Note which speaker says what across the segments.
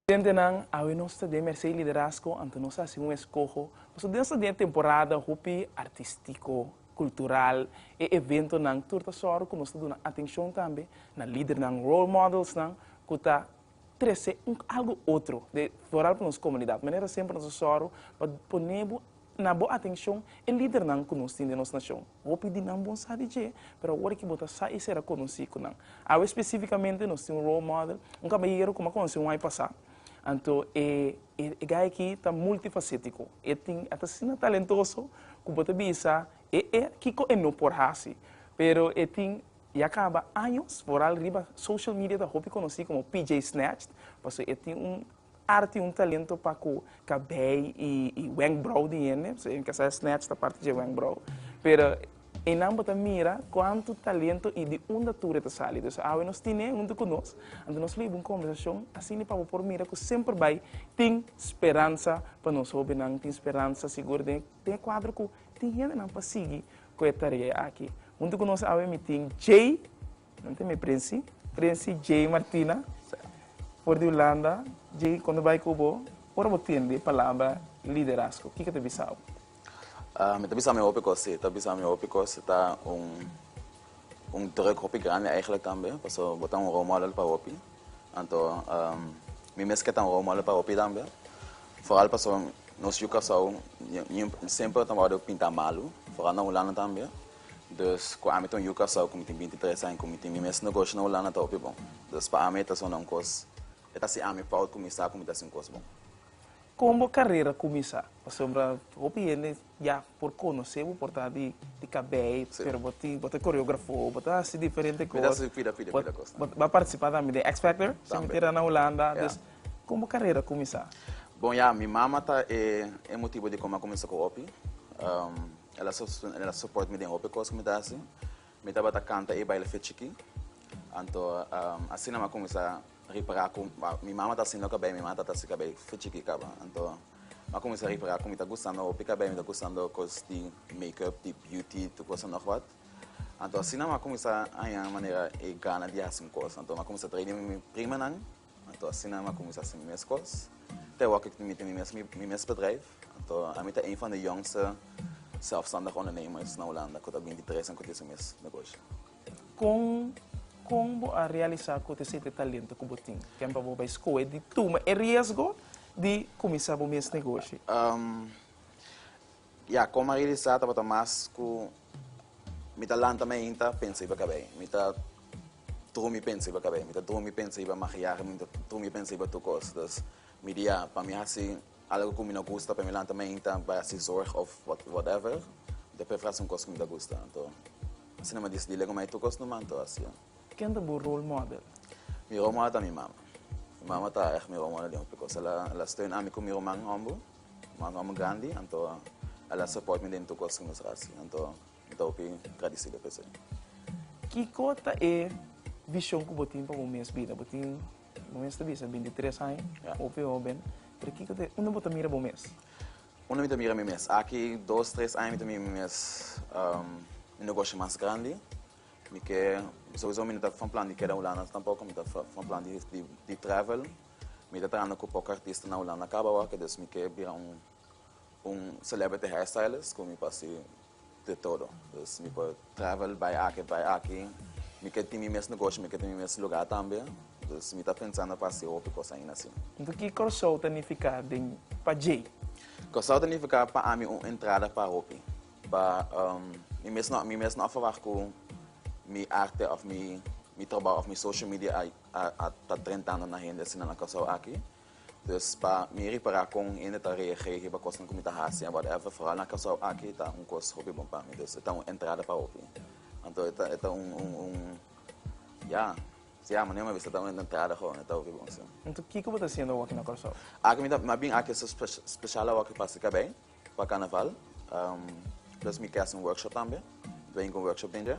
Speaker 1: Studentenan, awe nos ta den mersei liderazgo anto nos hasi un eskoho. Nos ta den sta den temporada hopi artistiko, kultural. E eventonan tur ta sòru ku nos ta duna atenshon tambe na lidernan, role modelsnan, ku ta trese un algo otro de foral pa nos comunidad. Manera semper nos a sòru pa pone bo na bo atencion e lidernan cu nos tin den nos nacion. Hopi di nan bon sa di dje, pero awor aki bo ta sa y ser a conoci cu nan. Awe specificamente nos tin un role model, un camahiguero cu m'ha conoci un ai pasa. Anto e e guy aki ta multifacetico. E tin e ta asina talentoso cu bo ta bisa, e e, kico e no por haci? Pero e tin I a kaba años foral riba social media ta hopi konosí komo PJ Snatched pasobra e tin un arti, un talento pa ku kabei i wenkbrou di hende, pasobra e kasa snatch ta parti dje wenkbrou. Pero einan bo ta mira kuantu talento i di unda tur e ta sali. Dus awe nos tin'e huntu ku nos, anto nos lo hiba un kombersashon asina pa bo por mira ku semper bai tin speransa pa nos hobennan, tin speransa sigur den e kuadro ku tin hendenan pa sigui Cu e tarea aki. Hunto cu nos awe mi tin Jay, nan tin mi Princy, Princy Jay Martina, for di Hulanda. Jay, cuando bay cu bo, ora bo tende palabra liderazgo, kico ta bisa bo? Ah, mi ta bisa mi hopi cos, si. Ta bisa mi hopi cos. Ta un, un druk hopi grandi, eigenlijk tambe. Pasobra bo ta un role model pa hopi. Anto mi mes ke ta un rol model pa hopi tambe, foral pasobra nos yu Kòrsou semper ta wòrdu pinta malu, foral na Hulanda tambe. Dus ku ami ta un yu Kòrsou ku mi tin binti tres aña, ku mi tin mi mes negoshi na Hulanda ta hopi bon. Dus pa ami e ta asina un kos, e ta hasi ami fout ku mi sa ku mi ta hasi un kos bon. Kon bo karera kuminsá? Pasobra hopi hende Ya por conoce bo por ta di cabey pero bo tin bo ta coreografo bo ta haci diferente cos. Mi ta haci pida pida pida cos. Bo a participa tambe den X Factor si mi tira na Hulanda dus con bo carera cuminsa? Bon ya mi mama ta e e motibo di como a cuminsa cu hopi ela su ela support mi den hopi cos cu mi ta haci. Mi tabata canta e baile fe chiki. Anto asina mi a cuminsa ripara cu mi mama ta haciendo cabey, mi mama ta haci cabey fe chiki caba. Anto mi a cuminsa ripara cu mi ta gustando hopi cabey, mi ta gustando cos di make up, di beauty, tur cosa nog wat. Anto asina mi a cuminsa haña manera e gana di haci un cos. Anto mi a cuminsa trae di mi primanan. Anto asina mi a kuminsá hasi mi mes kos. Te awor ku mi tene mi mes bedrijf, anto ami ta een van de jongste zelfstandig ondernemers na Hulanda ku ta binti tres en ku tin su mes negoshi. Kon kon bo a realisá ku te sete talento ku bo tin? Ken pa bo bai skohe di tuma e riesgo di kuminsá bo mes negoshi? Ya, kon Maria di sa tabata mas ku mi ta lanta mi ainta pensa iba kabei, mi ta drumi pensa iba kabei, mi ta drumi pensa iba makiahe, mi ta drumi pensa iba tur kos. Dus mi di ya, pa mi hasi algu ku mi no gusta, pa mi lanta mi ainta bai hasi zorg òf wòt wòtèver, mi ta prefera hasi un kos ku mi ta gusta. Anto, asina mi a disidí lego mi ai tur kos numa, anto hasi el. Ken ta bo role model? Mi role model ta mi mama. Mi mama ta ègt mi role model den hopi kos. El a steun ami ku mi ruman hòmber. Mano amo grandi, anto a la support mi den tur cos cu nos a haci, anto mi ta hopi gradicido pa esey. Kico ta e vision cu bo tin pa bo mes bida? Bo tin, bo mes ta bisa, binti tres aña, hopi hoben, pero kico ta e, unda bo ta mira bo mes? Unda mi ta mira mi mes? Aki dos, tres aña mi ta mira mi mes un negoshi mas grandi, mi ke, souzo mi no ta from plan di keda Hulanda tampoco, mi ta from plan di travel. Mi ta trahando cu poco artista na Hulanda caba awa ke dus mi ke bira un un celebrity hairstylist cu mi por haci de todo. Dus mi por travel bay aki bay aki. Mi ke tin mi mes negoshi, mi ke tin mi mes lugar tambe. Dus mi ta pensando pa haci hopi cos aina asin. Enton ki Corsou ta nifica den pa Jay? Corsou ta nifica pa ami un entrada pa hopi. Pa mi mes no mi mes no a verwah cu mi arte of mi mi trabao of mi social media a A ta trenta anda na hende asina na Kòrsou aki. Dus pa mi repará kon hende ta reag'é riba kosnan ku mi ta hasi en whatever, foral na Kòrsou aki, ta un kos hopi bon pa mi. Dus e ta un entrada pa hopi. Anto e ta e ta un un un ya, siá manera mi a bisa e ta un entrada gou, e ta hopi bon si. Anto kiko bo ta hasiendo awor aki na Kòrsou? Aki mi ta mi a bin aki so spes speshal awor aki pasa kabei pa Karnaval. Dus mi ke hasi un workshop tambe. Mi ta bin ku un workshop denter.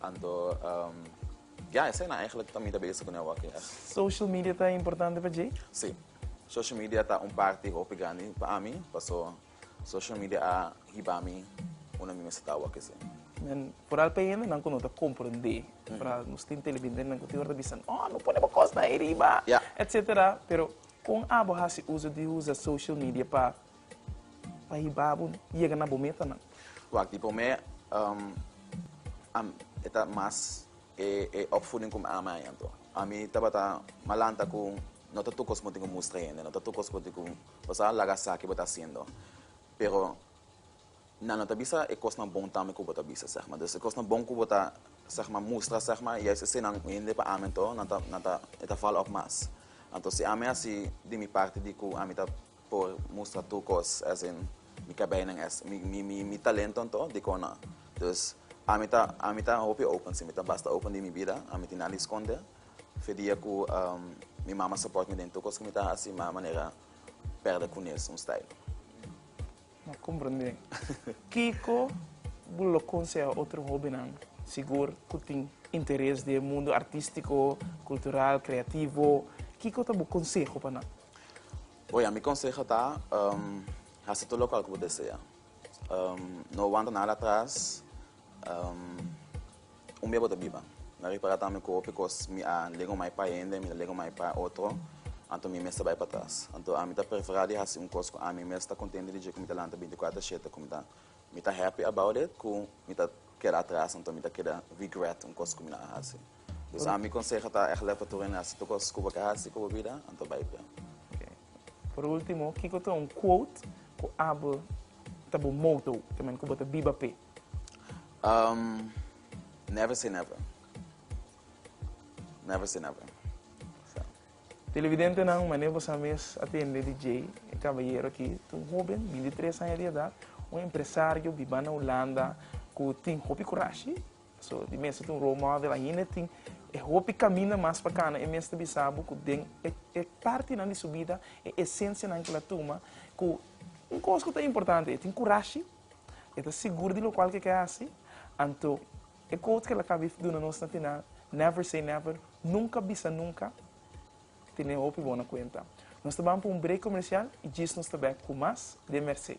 Speaker 1: Anto, ya, esei nan eigenlijk ta mi ta bezig kune awaki, ech. Social media ta importante pa djei? Sí. Social media ta un parti hopi grandi pa ami, paso social media a hiba mi unda mi mester ta awaki, sí. Men foral pa e hende nan ku no ta komprendé. Foral nos tin televindentenan ku tin ora ta bisa, No, no pone bo kosnan ei riba, etcetera. Pero kon abo hasi uso di usa social media pa Pa hiba bo yega na bo metanan. Wak di p'o mei e ta mas e opvoeding ku mi ama ahintu. Ami tabata malanta ku no ta tur kos ku bo tin ku mustra hende, no ta tur kos ku bo tin ku pasá, laga sa ke bo ta hasiendo. Pero nan lo ta bisa e kosnan bon tambe ku bo ta bisa sègma. Dus e kosnan bon ku bo ta sègma mustra sègma, yais eseinan ku hende pa ami anto nan ta e ta vala òf mas. Anto si ami a hasi di mi parti di ku ami ta. Por mustra tur cos as in mi cabijnan as mi talento anto dicon na dus ami ta ami ta hopi open si mi ta basta open di mi bida ami tin nada di sconde fe dia cu mi mama support mi den tur cos cu mi ta haci ma manera perde cunes un style. Lo comprende. Kico bo lo conseha otro hobennan sigur cu tin interes den mundo artistico, cultural, creativo? Kico ta bo conseho pa nan? Bo ya mi conseho ta haci tur locual cu bo desea. No wanta nada atras. Un bia bo ta biba. Mi a repara tambe cu hopi cos mi a lega omai pa hende, mi ta lega omai pa otro, anto mi mester bai patras. Anto ami ta prefera di haci un cos cu ami mes ta contente di dje cu mi ta lanta binticuater shete cu mi ta mi ta happy about it cu mi ta keda atras anto mi ta keda regret un cos cu mi na a haci. Busa mi conseho ta egle pa tur hende haci tur cos cu bo ke haci cu bo bida, anto bay pia. Por ultimo, kico ta un quote cu abo ta bo motto tamen cu bo ta biba pe? Um, Never say never. Never say never. So. Televidentenan, mane bo sa mes atende di Jay, e caballero aki, ta un hoben, 23 aña di edad, un empresario, biba na Hulanda, cu tin hopi curashi, So di mester tin un role model ainda e tin e hopi caminda mas pa cana e mester bisa bo cu den e e partinan di su bida e esencianan cu el a tuma cu un cos cu ta importante e tin curashi e ta sigur di locual cu e ke haci anto e quote cu el a caba di duna nos na final never say never nunca bisa nunca tene e hopi bon na cuenta nos ta ban pa un break comercial y djis nos ta back cu mas den Mercé.